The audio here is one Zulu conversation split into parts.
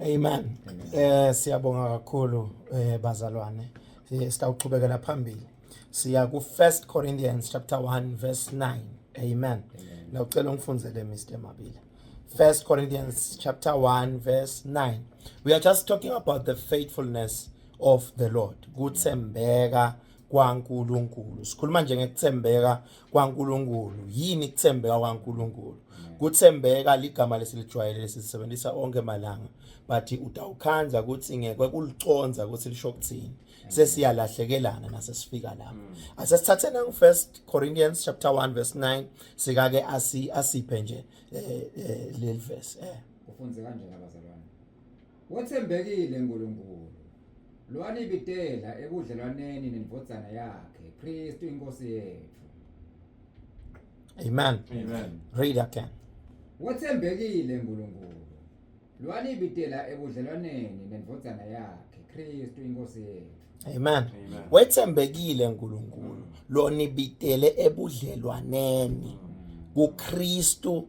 Amen. Eh siyabonga kakhulu eh bazalwane. Eh, sitawuqhubekela phambili. Siya ku 1 Corinthians chapter 1 verse 9. Amen. La ucela ungifundzele Mr. Mabila. 1 Corinthians chapter 1 verse 9. We are just talking about the faithfulness of the Lord. Kuthembeka kwaNkulunkulu sikhuluma nje ngekuthembeka kwaNkulunkulu yini kuthembeka kwaNkulunkulu kuthembeka ligama lesilijwayele lesisebenzisa onke malanga but utawukhandla ukuthi ngeke kuliconza ukuthi lisho ukuthini sesiyalahlekelana nasesifika lapho mm. asesithathe nangu first Corinthians chapter 1 verse 9 sikake asi asiphe nje eh, eh, leli verse eh ufunze kanjani abazalwane Wethembekile uNkulunkulu, lwanibitela ebudlelwaneni neNdvodzana yakhe, Kristu iNkosi yethu. Amen. Amen. Read again. Wethembekile uNkulunkulu, lwanibitela ebudlelwaneni neNdvodzana yakhe, Kristu iNkosi yethu. Amen. Amen. Wethembekile uNkulunkulu, lwanibitele ebudlelwaneni kuKristu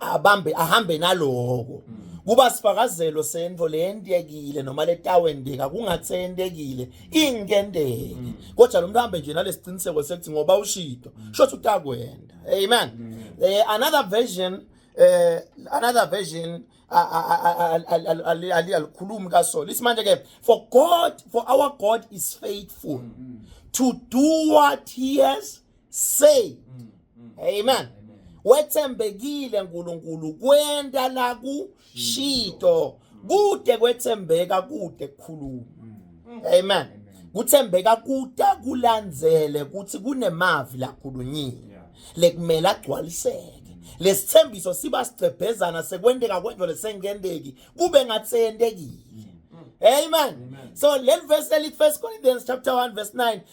abambe ahambe naloko kuba sifakazelo sento leyendekile noma letawendeka kungathi seyendekile ingenteke kodwa lo muntu ahambe nje nalesiqiniseko sekuthi ngoba ushito shothi utakwenda amen eh, another version eh another version alikhulumi kasolo isimanje ke for god for our god is faithful to do what he has say mm, mm. amen wethembekile nkulunkulu kwenta lakushito kude kwethembeka kude kukhuluma amen kuthembeka kuta kulandzele kuthi kunemavi lakhulunyile lekumele agcwaliseke lesithembiso siba sigcebhezana sekwenteka kwento lesengenteki kube ngathi yentekile Amen. Amen. So let verse early First Corinthians chapter 1 verse 9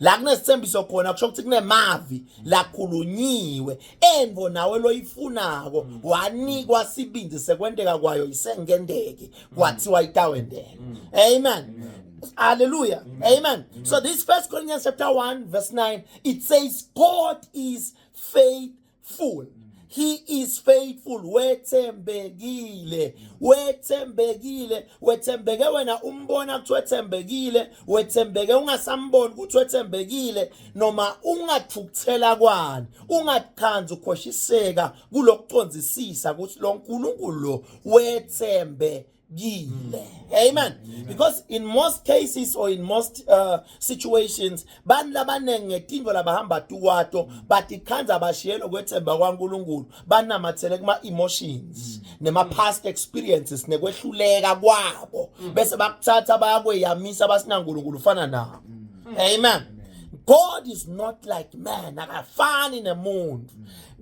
la kunesithembiso khona kusho ukuthi kunemavi lakhulunyiwe envo nawe loyifunako wanikwa sibindi sekwenteka kwayo isengenteki kwathiwa itawendeka amen hallelujah amen so this first corinthians chapter 1 verse 9 it says god is faith faithful mm. he is faithful wethembekile mm. wethembekile wethembeke wena umbona ukuthi wethembekile wethembeke ungasamboni ukuthi wethembekile noma ungathukuthela kwani ungathandi ukhoshiseka kulokuconzisisa ukuthi lo nkulunkulu lo wethembekile gile amen because in most cases or in most uh, situations bantu labaningi ngetinto labahamba tuwato batikhandza bashiyelo kwethemba kwankulunkulu banamathele kuma-emotions mm. nema-past experiences nekwehluleka kwabo mm. bese bakuthatha bayakweyamisa basinankulunkulu ufana nabo mm. amen god is not like man akafani nemuntu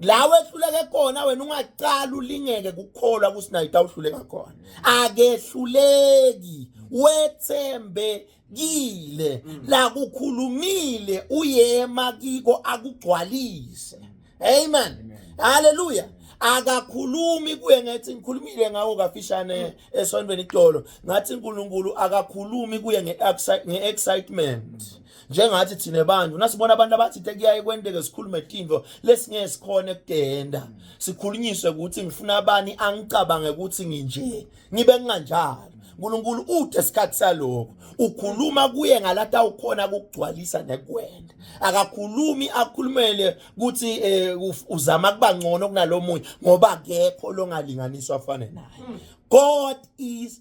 la wehluleke khona wena ungaqala ulingeke kukholwa kusinayita uhluleka khona akehluleki wethembe kile mm. la kukhulumile uyema kiko akugcwalise amen haleluya akakhulumi kuye ngathi ngikhulumile ngawo kafishane mm. esontweni itolo ngathi uNkulunkulu akakhulumi kuye nge-excitement mm. njengathi thina bantu nasibona abantu abathi tekuyaye kwenteke sikhulume tintfo lesingeke sikhone kutenda sikhulunyiswe ukuthi ngifuna abani angicabange ukuthi nginje ngibe nginganjalo uNkulunkulu ude sikhathi saloko ukhuluma kuye ngalata ukhona ukugcwalisa nekuwena akakhulumi akhulumele ukuthi eh, uzama kuba ngcono kunalomunye ngoba akekho longalinganiswa afane naye hmm. God is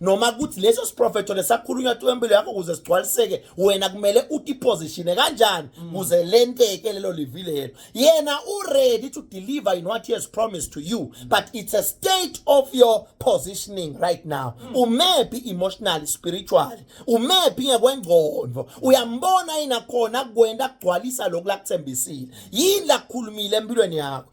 noma ukuthi leso siprofetho lesakhulunywa tu empilo yakho ukuze sigcwaliseke wena kumele utipositione kanjani mm. kuze lenteke lelo livi lelo yena uready to deliver in what he has promised to you mm. but it's a state of your positioning right now mm. umephi emotionally spiritually umephi ngekwengqondo uyambona yini akhona kukwenta kugcwalisa lokhu lakuthembisile yini lakukhulumile empilweni yakho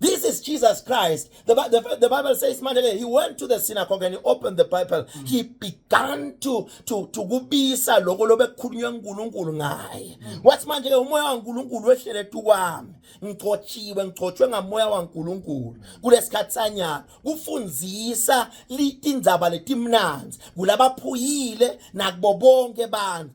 This is Jesus Christ. The, the, the Bible says, Mandele, he went to the synagogue and he opened the Bible. Mm. He began to to to kubisa lokho lobekukhulunywa uNkulunkulu ngaye. Mm. Wathi manje ke umoya waNkulunkulu wehlele tukwami. Ngigcotshiwe, ngigcotshwe ngamoya waNkulunkulu. Kulesikhathi sanyana kufundisa litindzaba letimnanzi kulabaphuyile nakubo bonke abantu.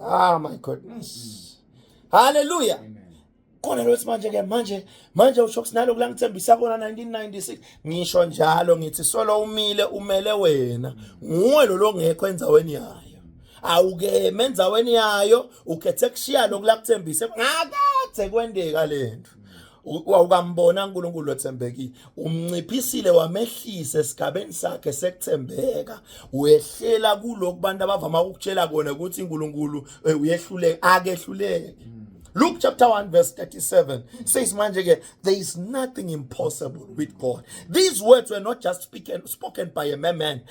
Ah my goodness. Hallelujah. Khona lo manje ke manje manje usho kusinalo kulangithembisa kona 1996 ngisho njalo ngithi solo umile umele wena nguwe lo longekho enzaweni yayo awuke menzaweni yayo ukhethe kushiya lokulakuthembise ngakathe kwendeka lento wawukambona uNkulunkulu othembekile umnciphisile wamehlisa esigabeni sakhe sekuthembeka wehlela kulokhu bantu abavama ukutshela kona ukuthi uNkulunkulu eh, uyehluleke akehluleke hmm. Luke chapter 1 verse 37 says manje ke there is nothing impossible with God. These words were not just spoken, spoken by a man,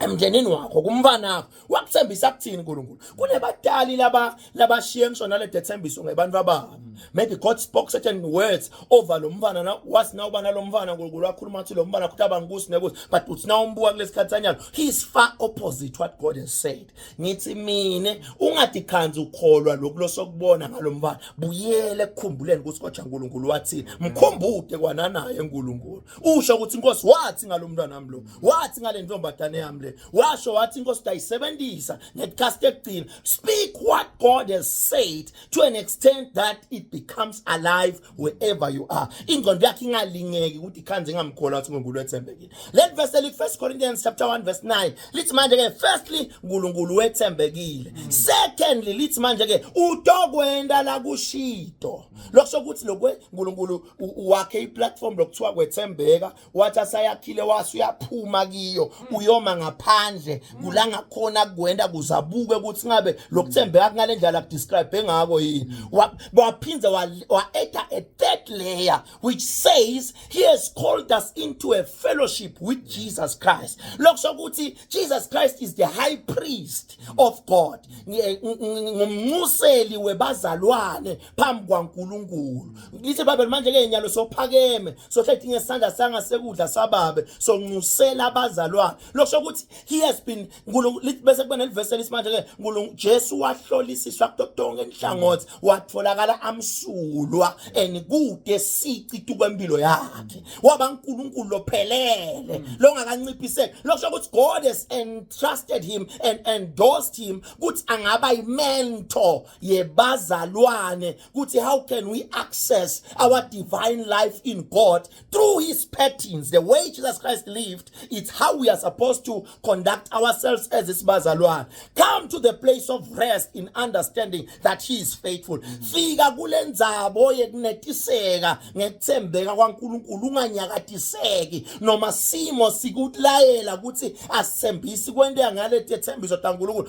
emndenini wakho kumfanakho wakuthembisa kuthini uNkulunkulu kunebadali laba labashiye ngisho nale dethembiso ngebantu ababo maybe God spoke certain words over lo mfana na was now bana lo mfana uNkulunkulu wakhuluma ukuthi lo mfana kuthi abangusi nekuthi but uthi na umbuka kulesikhathanyana he is far opposite what God has said ngithi mina ungadikhanzi ukholwa lokulo sokubona ngalomfana buyele ekukhumbuleni ukuthi kodwa uNkulunkulu wathini mkhumbude kwananaye uNkulunkulu usho ukuthi inkosi wathi ngalomntwana nami lo wathi ngale ntombazane yami le washo wathi inkosi utayisebenzisa ngecast ekugcina speak what god has said to an extent that it becomes alive wherever you are ingqondo yakhe ingalingeki ukuthi ikhanze ingamkhola ukuthi uNkulunkulu ethembekile let verse eli first corinthians chapter 1 verse 9 lithi manje ke firstly uNkulunkulu wethembekile hmm. secondly lithi manje ke utokwenda la kushito lokusho ukuthi lokwe uNkulunkulu wakhe iplatform lokuthiwa kwethembeka wathi asayakhile wase uyaphuma kiyo hmm. uyoma ngaphandle hmm. kulanga khona kuwenda kuzabuke ukuthi ngabe lokuthembeka kungale ndlela describe engako yini hmm. waphinda wa add a third layer which says he has called us into a fellowship with Jesus Christ lokusho ukuthi Jesus Christ is the high priest of God ngumnxuseli webazalwane phambi kwaNkulunkulu ngithi babe manje ke nyalo sophakeme sohlethi ngesandla sanga sekudla sababe sonxusela abazalwane lokusho ukuthi he has been lithi bese kuba nelivesi elisimanje ke nkulunkulu Jesu wahlolisiswa kuto tonke inhlangothi watholakala amsulwa and kude sici tukwempilo yakhe waba uNkulunkulu lophelele longakanciphiseki lokusho ukuthi God has entrusted him and endorsed him ukuthi angaba imentor yebazalwane ukuthi how can we access our divine life in God through his patterns the way Jesus Christ lived it's how we are supposed to conduct ourselves as isibazalwane come to the place of rest in understanding that he is faithful fika kulenzabo yekunetiseka ngekuthembeka kwaNkuluNkulu unganyakatiseki noma simo sikulayela ukuthi asithembisi kwente ngale tethembiso taNkuluNkulu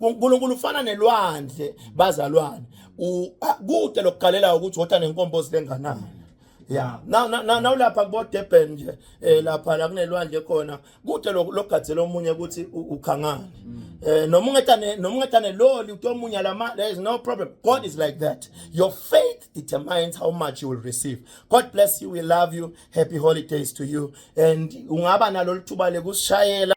uNkulunkulu ufana nelwandle bazalwane kude lokugalela ukuthi wotha nenkombo silenganani ya na na na ulapha kubo Durban nje eh lapha la kunelwandle khona kude logadze lomunye ukuthi ukhangani mm. eh noma ungetane noma ungetane loli utomunya lama there is no problem god is like that your faith determines how much you will receive god bless you we love you happy holidays to you and ungaba nalolithuba lekusishayela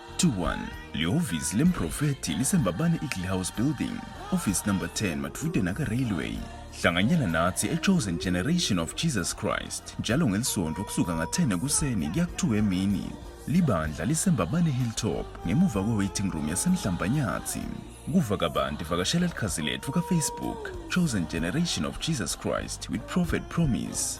21 lihhovisi lemprofethi lisembabane eagle house building office number 10 madvude naka-railway hlanganyela nathi e-chosen generation of jesus christ njalo ngelisonto kusuka nga-10 ekuseni kuya ku-2 emini libandla lisembabane hilltop ngemuva kwe-waiting room yasemhlambanyathi kuva kabanti vakashela likhazi letfu kafacebook chosen generation of jesus christ with prophet promise